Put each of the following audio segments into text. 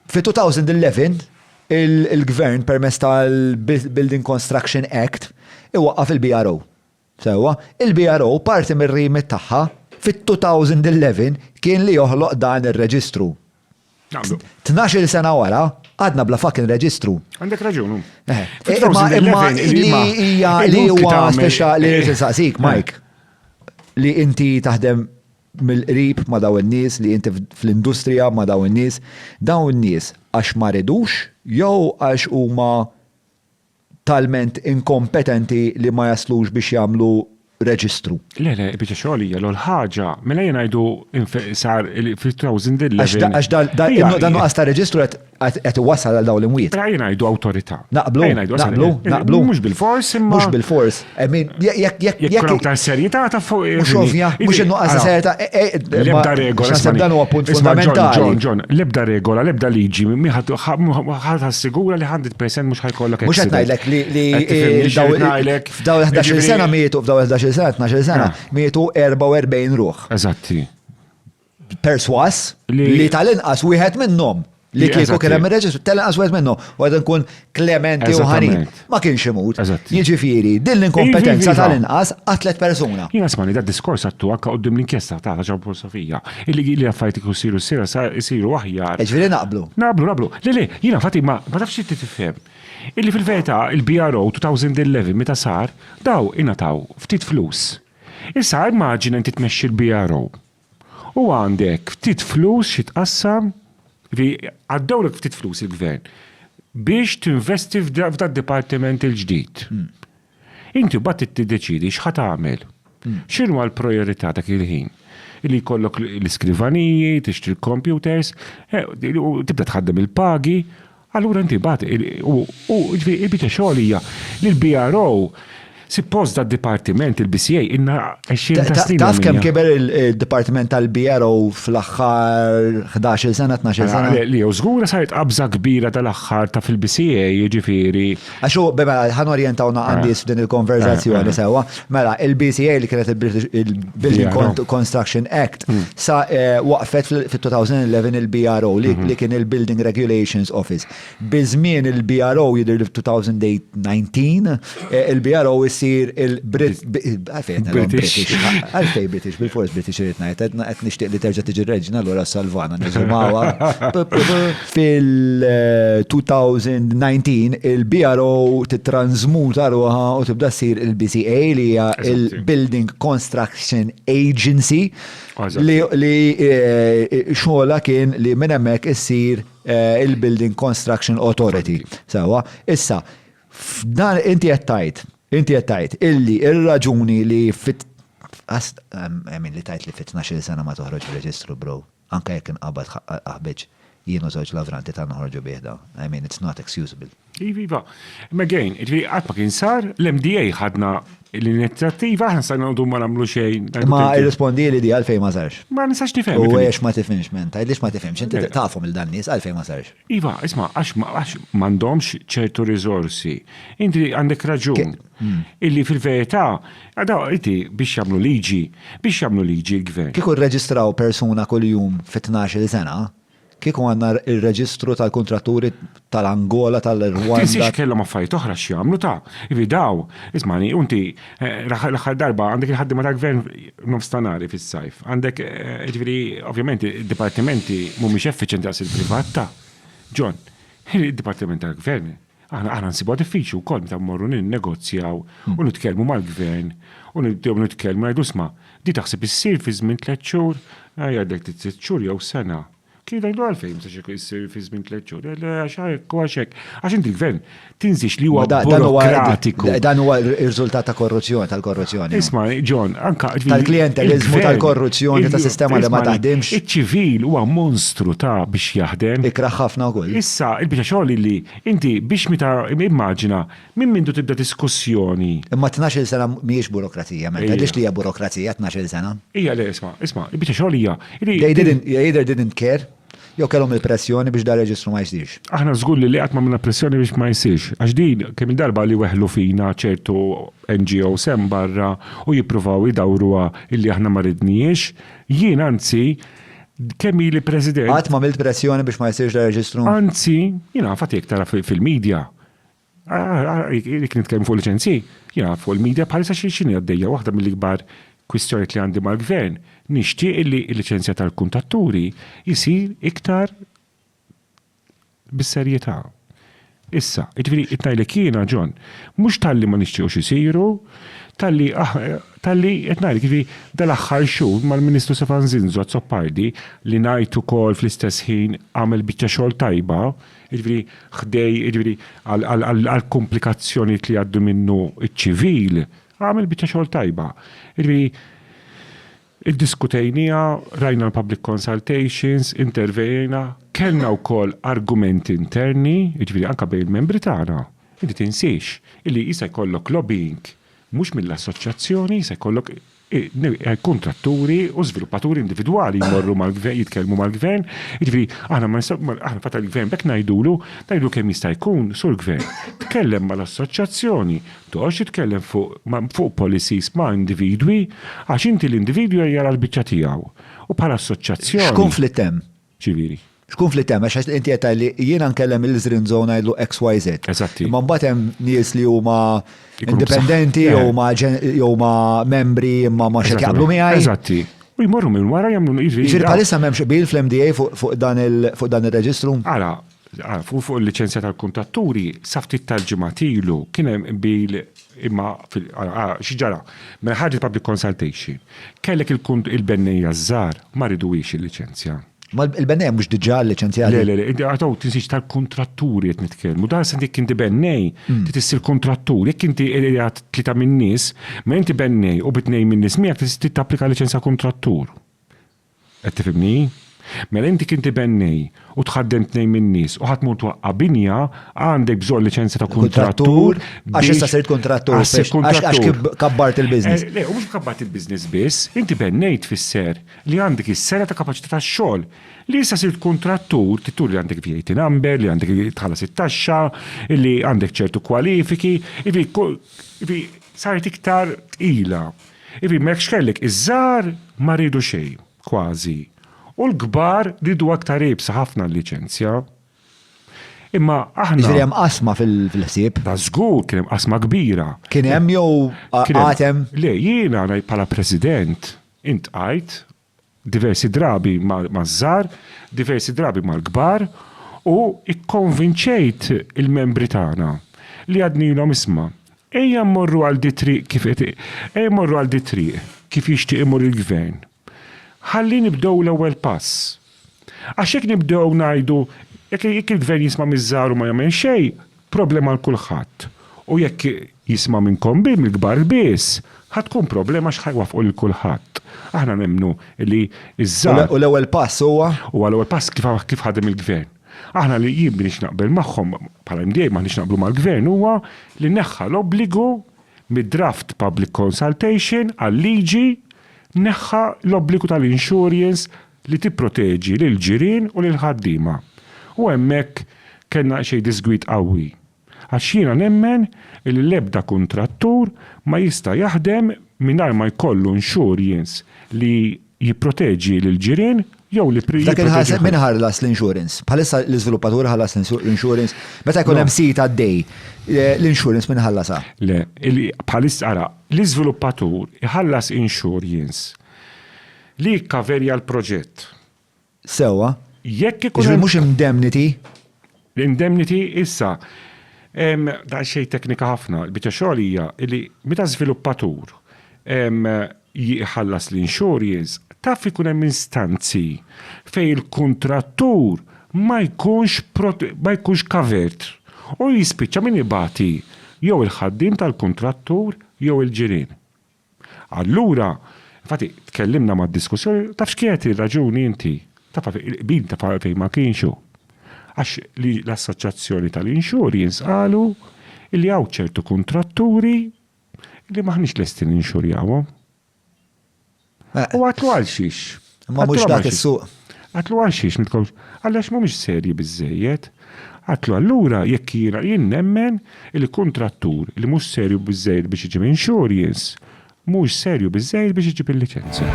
Fl-2011, il-Gvern permezz tal-Building Construction Act iwaqqaf il-BRO. Sewwa, il-BRO parti mir-remit tagħha fit-2011 kien li joħloq dan ir-reġistru. Tnax-il sena wara, għadna bla fucking reġistru. Għandek raġun hu. Imma li huwa speċjali li nsaqsik, Mike, li inti taħdem mill-qrib ma' dawn in-nies, li inti fl-industrija ma' dawn in-nies, dawn in-nies għax ma ridux jew għax huma talment inkompetenti li ma jaslux biex jagħmlu reġistru? Le, le, il-biċċa xogħol hija l-ogħla ħaġa. Mela jiena ngħidu sar fi 2011. Għax dan nuqqas ta' reġistru qed qed iwassal għal dawn l-imwiet. Ejja ngħidu awtorità. Naqblu, naqblu, naqblu. Mhux bil-fors imma. Mhux bil-fors. Jekk jekk jekk ta' serjetà ta' fuq. Mhux ovvja, mhux innuqqas ta' serjetà. E, e, e, l-ebda regola. X'għasab dan huwa punt fundamentali. Ġon, Ġon, l-ebda regola, l-ebda liġi, ħadd assigura li 100% mhux ħajkollok. Mhux qed ngħidlek li f'daw 11 sena mietu, f'daw 11 sena, 12 sena, ah. mietu 44 ruħ. Eżatti. perswas li tal-inqas wieħed minnhom li kieku kien hemm ir-reġistru tal-inqas wieħed minnhom u għad nkun klementi u ħani. Ma kienx imut. Jiġifieri, din l-inkompetenza tal-inqas qatlet persuna. Jien asmani da diskors għattu anke qudiem l-inkjesta ta' ġaw filosofija. Illi li affarijiet ikun siru sira siru aħjar. Ġifieri naqblu. Naqblu, naqblu. Le le, jiena fati ma tafx inti tifhem. Illi fil-verità il-BRO 2011 meta sar daw ingħataw ftit flus. Issa immaġina inti tmexxi l-BRO U għandek ftit flus xi tqassam, ġifieri għaddewlek ftit flus il-Gvern biex tinvesti f'dad-dipartiment il-ġdid. Inti mbagħad trid tiddeċiedi x'ħa tagħmel. X'inhuma l-prijorità dak il-ħin? Li jkollok l-iskrivaniji, tixtri l-kompjuters, tibda tħaddem il-pagi, Allura inti mbagħad u ġifieri il-biċċa xogħol hija li l-BRO Sippost da dipartiment il-BCA inna 20 ta' snin. Taf kemm kiber il-dipartiment tal-BRO fl-aħħar 11 sena, 12 sena? Li jew żgura saret qabża kbira tal-aħħar ta' fil-BCA, jiġifieri Għax u, mela, ħan orientawna eh. għandis f'din il-konverzazzjoni eh, eh. sewa. Mela, il-BCA li kienet il-Building Construction Act hmm. sa waqfet fil-2011 il-BRO hmm. li kien il-Building Regulations Office. Bizmin il-BRO jidir l-2019, il-BRO jisir il-British. Għalfej British, bil-fors British rritnajt, għet nishtiq li terġa tiġi reġna l-għura salvana, nizumawar. Fil-2019 il-BRO tittransmuta ruħa u tibda ssir il-BCA li hija il-Building Construction Agency li xogħolha kien li minn hemmhekk issir il-Building Construction Authority. Sewwa. Issa, f'dan inti qed tgħid, inti qed tgħid illi r-raġuni li fit-, I mean li tgħid li fit-tnax-il sena ma toħroġ ir-reġistru bro. Anke jekk inqabad ħaqqa l-qaħbeġ, jien u żewġ lavranti ta' noħorġu bih dan. I mean, it's not excusable. Iva, iva. Imma again, jiġifieri qatt ma kien sar, l-MDA ħadna l-inizjattiva, aħna stajna noqogħdu ma nagħmlu xejn. Imma irrispondieli di għalfejn ma sarx. Ma nistax nifhem. U għax ma tifhimx men, tgħidlix ma tifhimx, inti tafhom il dan nies għalfejn ma sarx. Iva, isma, għax għax m'għandhomx ċertu riżorsi. Inti għandek raġun. Illi fil-verità, għada inti biex jagħmlu liġi, biex jagħmlu liġi l-gvern. Kieku rreġistraw persuna kuljum fi tnax-il sena, kieku għandna r-reġistru tal-kuntratturi tal-Angola, tal-Rwanda. Tinsiex kellhom affarijiet oħra x'jagħmlu ta. Ivi daw, ismagħni, u inti Eh, l-aħħar darba għandek il-ħaddima tal-gvern nofstanari fis-sajf. Għandek, eh, ġviri, ovvjament, id-dipartimenti mhumiex effiċenti għas il-privat ta' John, il-dipartiment tal-gvern. Aħna aħna nsibu diffiċi wkoll meta mmorru ninnegozjaw hmm. u nitkellmu mal-gvern u nitkellmu ngħidu sma' di taħseb issir fi żmien tliet xhur, jgħidlek tliet xhur jew sena. Kien jgħidu għalfejn ma sax jsir fi żmien tliet xhur, eh, għax hekk u għax hekk. Għax inti l-gvern tinżix li huwa burokratiku. Dan huwa r-riżultat ta' korruzzjoni tal-korruzzjoni. Isma' John, anka tal-klientelizmu tal-korruzzjoni ta' sistema li ma taħdimx. Iċ-ċivil huwa monstru ta' biex jaħdem. Ikraħ ħafna wkoll. Issa, il-biċċa xogħol li inti biex meta immaġina Minn mindu tibda diskussjoni. Imma tnax-il sena mhijiex burokrazija, Mel, tgħidlix li hija burokrazija tnax-il sena. Hija le, isma', isma', il-biċċa xogħol hija li. They didn't, they either didn't care, jew kellhom il-pressjoni biex dan reġistru ma jsirx. Aħna żgur li qatt m'għamilna pressjoni biex ma jsirx, għax din kemm-il darba li weħlu fina ċertu NGOs hemm barra u jippruvaw idawruha illi aħna ma ridnihiex, jien anzi kemm ili President. Qatt m'għamilt pressjoni biex ma jsirx dan ir-reġistru? Anzi, jien naf għad jekk tara fil-media. Jek nitkellmu fuq liċenzji, jena fuq il-media bħalissa xi xini għaddejja waħda mill-ikbar kwistjoniet li għandi mal-gvern. Nixtieq li l-liċenzja tal-kuntatturi jsir iktar bis-serjetà. Issa, jiġifieri qed ngħidlek jiena John, mhux talli ma nixtiequx isiru, talli talli qed ngħidlek jiġifieri dal-aħħar xhur mal-Ministru Stefan Zinzo Azzopardi li ngħid ukoll fl-istess ħin għamel biċċa xogħol tajba, jiġifieri ħdej, jiġifieri għall-komplikazzjonijiet li jgħaddu minnu ċ-ċivil, għamel biċċa xogħol tajba. Jiġifieri iddiskutejniha, rajna l-public consultations, intervejna, kellna wkoll argumenti interni, jiġifieri anke bejn il-membri tagħna. Inti tinsiex illi jista' jkollok lobbying mhux mill-assoċjazzjoni, jista' jkollok kontraturi u żviluppaturi individwali jmorru mal-gvern, jitkellmu mal-gvern, jiġifieri aħna ma nistgħu, aħna fatt il-gvern b'hekk ngħidulu, ngħidulu kemm jista' jkun, sur gvern, tkellem mal-assoċjazzjoni, toqgħodx titkellem fuq ma fuq policies ma' individwi, għax inti l-individwi jara l-biċċa tiegħu u bħala assoċjazzjoni. X'kunflitt hemm? ċivili. X'kunflitt hemm għax inti qed tgħid li jiena nkellem il-Zrin Zone ngħidlu XYZ. Eżatti. Imma mbagħad hemm nies li huma indipendenti eh. jew ma jew ma membri imma ma xed jaqblu miegħi. Eżatti. U jmorru minn wara jagħmlu jiġri. Jiġri bħalissa m'hemmx bil fl-MDA fuq dan il-reġistru? Ara, Fuq il-liċenzja tal-kuntatturi, sa ftit tal-ġimgħat ilu kien hemm qbil imma xi ġara. Mela ħarġet public consultation. Kellek il-bennejja ż-żgħar ma riduhiex il-liċenzja. Ma l-bennejja mhux diġà liċenzjati? Le, le, le, inti għad hawn tinsiex tal-kuntratturi qed nitkellmu. Dan se jekk inti bennej, trid issir kuntrattur. Jekk inti qiegħed tlieta min-nies, mela inti bennej u bi tnejn min-nies miegħek trid tapplika liċenzja kuntrattur. Qed tifhimni? Mela inti kien tibennej u tħaddem tnejn min-nies u ħa tmur twaqqa' binja, għandek bżonn liċenzja ta' kuntrattur biex. Għax issa sirt kuntrattur. Għax sirt kuntrattur. Għax kif kabbart il-business. Le, u mhux kabbart il-business biss, inti bennejt tfisser li għandek is-sengħa ta' kapaċità tax-xogħol. Li issa sirt kuntrattur trid turi li għandek VAT number, li għandek tħallas it-taxxa, li għandek ċertu kwalifiki, jiġifieri saret iktar tqila. Ivi, ma hekx kellek, iż-żgħar ma riedu xejn, kważi, u l-kbar riedu aktar iebsa ħafna l-liċenzja. Imma aħna. Jiġifieri hemm qasma fil-ħsieb. Da żgur kien hemm qasma kbira. Kien hemm jew għad hemm? Le, jiena bħala President intqajt diversi drabi maż-żgħar, diversi drabi mal-kbar, u kkonvinċejt il-membri tagħna li għadnilhom isma', ejja mmorru għal dit-triq kif qed ejja mmorru għal dit-triq kif jixtieq imur il-Gvern. Ħalli nibdew l-ewwel pass. Għax jekk nibdew ngħidu jekk il-Gvern jisma' miż-żgħar u ma jagħmel xejn, Problema għal kulħadd. U jekk jisma' minnkom biss, mill-kbar biss, ħa tkun problema għax ħa jwaffqu lil kulħadd. Aħna nemmnu li ż-żgħar. U l-ewwel pass huwa? Huwa l-ewwel pass kif ħadem il-Gvern. Aħna li jien m'iniex naqbel magħhom, bħala MDA m'aħniex naqblu mal-Gvern, huwa li neħħa l-obbligu mid-draft public consultation għal liġi, neħħa l-obbligu tal-insurjens li tipproteġi lill-ġirien u lill-ħaddiema. U hemmhekk kellna xejn diżgwid qawwi. Għax jiena nemmen li l-ebda kuntrattur ma jista' jaħdem mingħajr ma jkollu insurjence li jipproteġi lill-ġirien jew li jipproteġi lill-ħaddiema. F'dak il-każ, min ħallas l-insurance? Bħalissa l-iżviluppatur iħallas l-insurance? Meta jkun hemm sit għaddej, l-insurance min iħallasha? Le, bħalissa, ara, l-iżviluppatur iħallas insurjence. Li jikkaverja l-proġett. Sewwa. Jekk ikun. Jiġifieri mhux indemnity? Indemnity issa daqsxejn teknika ħafna. Il-biċċa xogħol hija li meta żviluppatur jħallas l-insurance, taf ikun hemm instanzi fejn il-kuntrattur ma jkunx ma jkunx covered u jispiċċa min ibati jew il-ħaddiem tal-kuntrattur jew il-ġirien. Allura, infatti, tkellimna mad-diskussjoni, tafx kienet ir-raġuni inti? Taf għalfejn il-qbil taf għalfejn ma kienx hu? Għax li l-assoċjazzjoni tal-insurjens qalu li hawn ċertu kuntratturi li m'aħniex lesti ninxurjawhom. U għadtlu għalxiex? Imma mhux dak is-suq. Għatlu għal xiex mitkomx? Għallax mhumiex serji biżżejjed. Għatlu allura jekk jiena jien nemmen li kuntrattur li mhux serju biżżejjed biex iġib insurjens mhux serju biżżejjed biex iġib il-liċenzja.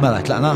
Mela tlaqna.